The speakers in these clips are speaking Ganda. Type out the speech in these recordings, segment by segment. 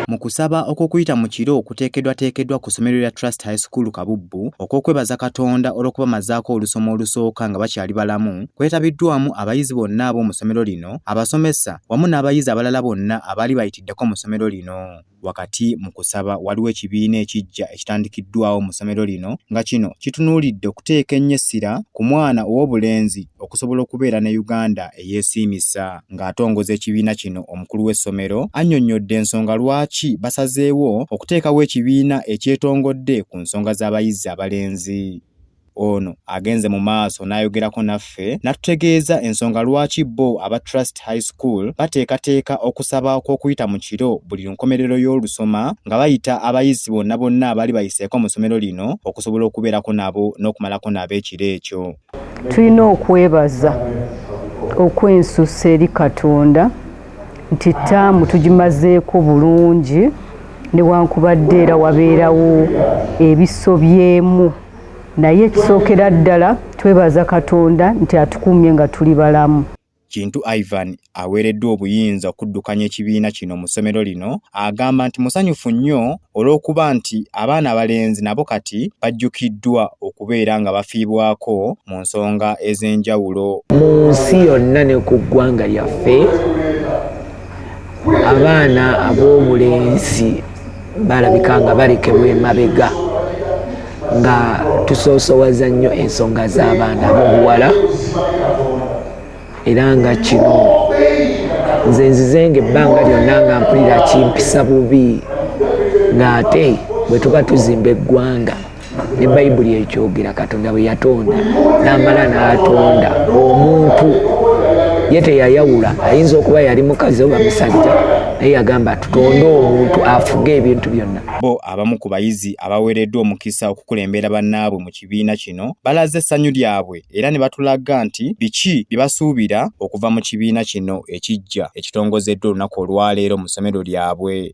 mu kusaba okw'okuyita mu kiro kuteekeddwateekeddwa ku ssomero lya Trust High School Kabubbu okw'okwebaza Katonda olw'okubamazaako olusoma olusooka nga bakyali balamu kwetabiddwamu abayizi bonna ab'omu ssomero lino abasomesa wamu n'abayizi abalala bonna abaali bayitiddeko mu ssomero lino wakati mu kusaba waliwo ekibiina ekiggya ekitandikiddwawo mu ssomero lino nga kino kitunuulidde okuteeka ennyo essira ku mwana ow'obulenzi okusobola okubeera ne Uganda eyeesiimisa. Ng'atongoza ekibiina kino omukulu w'essomero annyonnyodde ensonga lwaki basazeewo okuteekawo ekibiina ekyetongodde ku nsonga z'abayizi abalenzi. Ono agenze mu maaso n'ayogerako naffe n'atutegeeza ensonga lwaki bo aba Trust High School bateekateeka okusaba okw'okuyita mu kiro buli nkomerero y'olusoma nga bayita abayizi bonna bonna abali bayiseeko mu ssomero lino okusobola okubeerako nabo n'okumalako nabo ekiro ekyo. Tulina okwebaza okwensusa eri Katonda nti ttaamu tugimazeeko bulungi newankubadde era wabeerawo ebisobyemu naye ekisookera ddala twebaza Katonda nti atukuumye nga tuli balamu. Kintu Ivan aweereddwa obuyinza okuddukanya ekibiina kino mu ssomero lino agamba nti musanyufu nnyo olw'okuba nti abaana abalenzi nabo kati bajjukiddwa okubeera nga bafiibwako mu nsonga ez'enjawulo. Mu nsi yonna ne ku ggwanga lyaffe abaana ab'obulenzi balabika nga balekebwa emabega nga tusoosowaza nnyo ensonga z'abaana bobuwala era nga kino nze nzizenga ebbanga lyonna nga mpulira kimpisa bubi ng'ate bwe tuba tuzimba eggwanga ne bayibuli ekyogera katonda bwe yatonda n'amala n'atonda omuntu ye teyayawula ayinza okuba yali mukazi oba musajja naye yagamba tutonde omuntu afuge ebintu byonna bo abamu ku bayizi abaweereddwa omukisa okukulembera bannaabwe mu kibiina kino balaze essanyu lyabwe era ne batulaga nti biki bye basuubira okuva mu kibiina kino ekijja ekitongozeddwa olunaku olwaleero mu ssomero lyabwe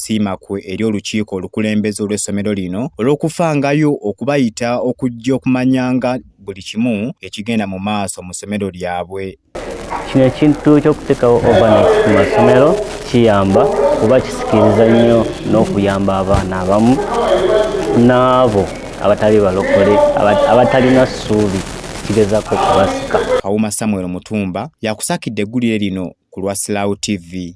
siima kwe eri olukiiko olukulembeze olw'essomero lino olw'okufangayo okubayita okujja okumanyanga buli kimu ekigenda mu maaso mu ssomero lyabwe kino ekintu ky'okuteekawo ovanet ku masomero kiyamba kuba kisikiriza nnyo n'okuyamba abaana abamu n'abo abatali balokole abatalina ssuubi kigezako kubasika kawuma samuel mutumba yakusakidde eggulire lino ku lwa silaw tv